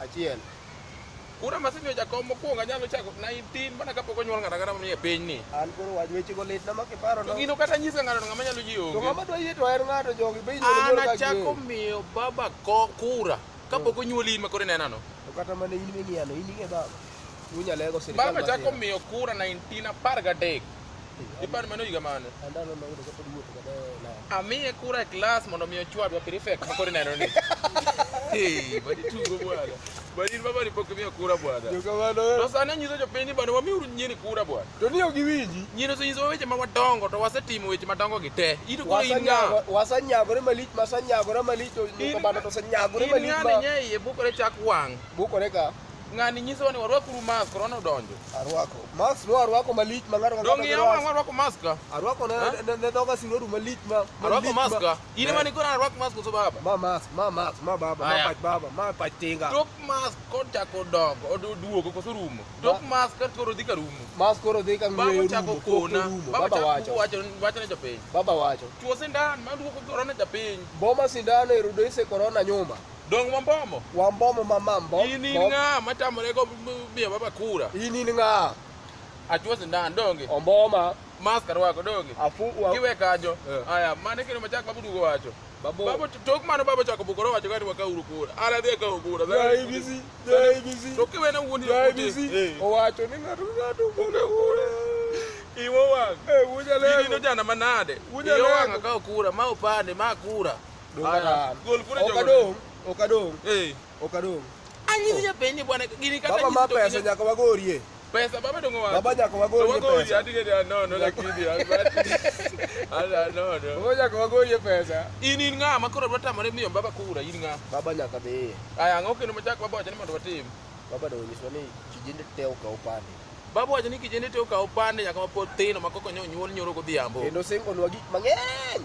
Achiel. Kura masemi ojakom mokwongo anyalo chako 19 mana kapok onyuol ng'ata kata manie piny ni. An koro wach weche go lit na ma kiparo no. Gino kata nyisa ng'ato ng'ama nyalo ji onge. To ng'ama dwa yie to en ng'ato jogi be inyuol nyuol ka. Ana chako miyo baba ko kura kapok hmm. onyuoli in makore nenano. To kata mane in ming'iano in ing'e baba. Unyalego sirkal. Baba chako miyo kura 19 apar gadek. Ipan mano higa mane? Andalo ma yudo kapod wuotho kata na. Amiye kura e klas mondo mi ochwadwa prefect ma koro ineno ni. Hey, badi tugo bwana. Badi baba ni pok miyo kura bwana. Yo kamano. To sani anyiso jopiny ni bwana wamiuru nyiri kura bwana. To ni ok iwinji. Nyiri osenyisowa weche ma wadongo to wasetimo weche madongo gi te. In to koro in ng'a? Wasanyagore malich, masanyagore malich to nyuka bana to osanyagore malich ma. In ng'a ni nye iye bukore chak wang'. Bukore ka. Ng'ani nyiso ni warwak uru mask, korona odonjo. Arwako. Mask no arwako malich ma ng'ato Dongi ya wang' warwako mask ka. Arwako ne ne- ne dhoga siro du malich ma Arwako malich mask ka. In ema nikona arwak mask koso baba. Ma mask, ma mask, ma baba, ma Aya. pach baba, ma pach tinga. Tok mask kochako dongo, od- oduogo koso rumo. Tok mask ka koro dhi ka rumo. Mask koro dhi ka Baba ng'weyo chako rumo, kona. koko rumo. Baba Baba chako wacho. wacho wacho ne japiny. Baba wacho. Chuo sindan ma duoko korona japiny. Boma sindano e rudo ise korona nyuma. Dong Wambomo. Wambomo ma mambo. In in ng'a ma tamore go miyo baba kura. In in ng'a. Achuo sindan donge. Omboma. Mask arwako donge. Afu wa. Kiwe kajo. Eh. Aya, mane kino machak babu dugo wacho. Babu. Babu tok mano babu chako bukoro wacho gati waka uru kura. Ala dhi ka kura. Ya ibisi. Ya ibisi. To kiwe na wuondi. Ya ibisi. Eh. Owacho ni ng'ato ng'ato kura kura. Iwo wang. Eh, wuja leo. Ni no jana manade. Wuja leo. Iwo wang ka kura, ma opande, ma kura. Okadong, okadong. Eh. Okadong. Anyi oh. japenye bwana gini kata Baba mapa ya sanya kwa gorie. Pesa baba dongo wapi? Baba nyako wagori pesa. Wagori hadi gede no no lakini ala no no. Baba nyako wagori pesa. Ini nga makoro bata mare miyo baba kura ini nga. Baba nyaka be. Aya ngoke no machako baba jani mando watim. Baba do nyiswa ni kijende teo ka upande. Baba wacho ni kijende teo ka upande nyaka mapod tino makoko nyonyuol nyoro godhiambo. Kendo singo nwa gik mang'eny.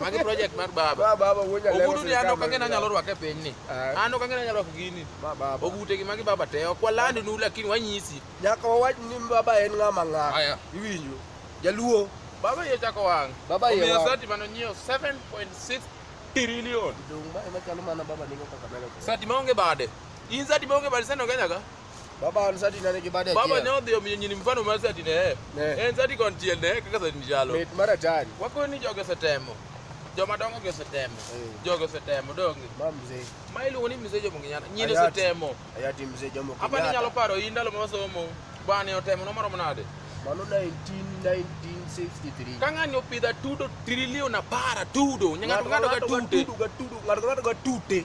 Magi project mar baba. Ba baba wuoja leo. Ogudu ni ando kangena nyalo rwake piny ni. Eh. Ando kangena nyalo rwake gini. Ba baba. Ogute gi magi baba te. Okwa land nu lakini wanyisi. Nyaka wawach ni baba en ng'ama ng'a. Aya. Iwinjo. Jaluo. Baba ye chako wang. Baba ye. Omiyo sati mano nyio 7.6 trillion. Dong ba ema chalo mana baba ningo kaka melo. Sati maonge bade. In sati maonge bade sano kenyaga. Baba ansati na nigi bade. Baba ne odhi omiyo nyini mfano mar sati ne. En sati kon tiel ne kaka sati jalo. Mit mar atari. Wako ni joge setemo. Joma dongo ge setemo. Eh. Joge setemo dongi. Ba mzee. Ma iluongo ni mzee jomo nginyana. Nyine setemo. Ayati mzee jomo nginyana. Hapa ni nyalo paro yi ndalo ma wasomo. Bani otemo no maromo nade? Mano 1963. Ka ng'ani opidha tudo trilion apar atudo. Ng'ato ng'ato ga tute. Ng'ato ng'ato ga tute.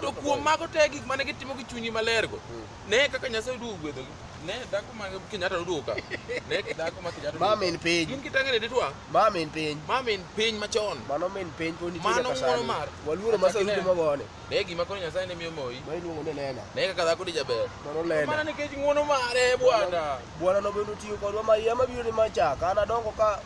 to kuom mago te gik mane gitimo gi chunyi malergo hmm. ne kaka nyasaye duogo gwedhogi ne dhako ma kenyatta noduogo ka ne dhako ma kenyatta ma min piny gin kitangene ditwa ma min piny ma min piny machon mano min piny pod nitie mano ngoro mar waluoro ma sasa timo gone ne gima koro nyasaye ne miyo moyi ma iluongo ni lena ne kaka dhako ni jaber mano lena mana nikech ng'wono mare bwana bwana nobedo tiyo kodwa ma yie mabiro ni machaka an adongo ka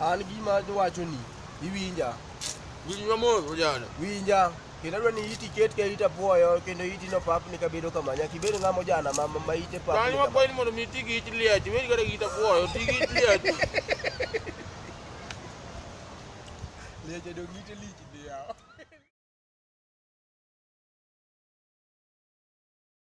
An gima wachoni iwinja. Winj mamos ojana. Winja. Kendo adwa ni iti ket ka ita puoyo kendo iti no pap ni kabedo kama nyaka ibed ng'ama ojana ma ma ite pap. Kan wa kwain mondo mi tigi it liach, weri kada gita puoyo, tigi it liach. Liach edo ngite liach.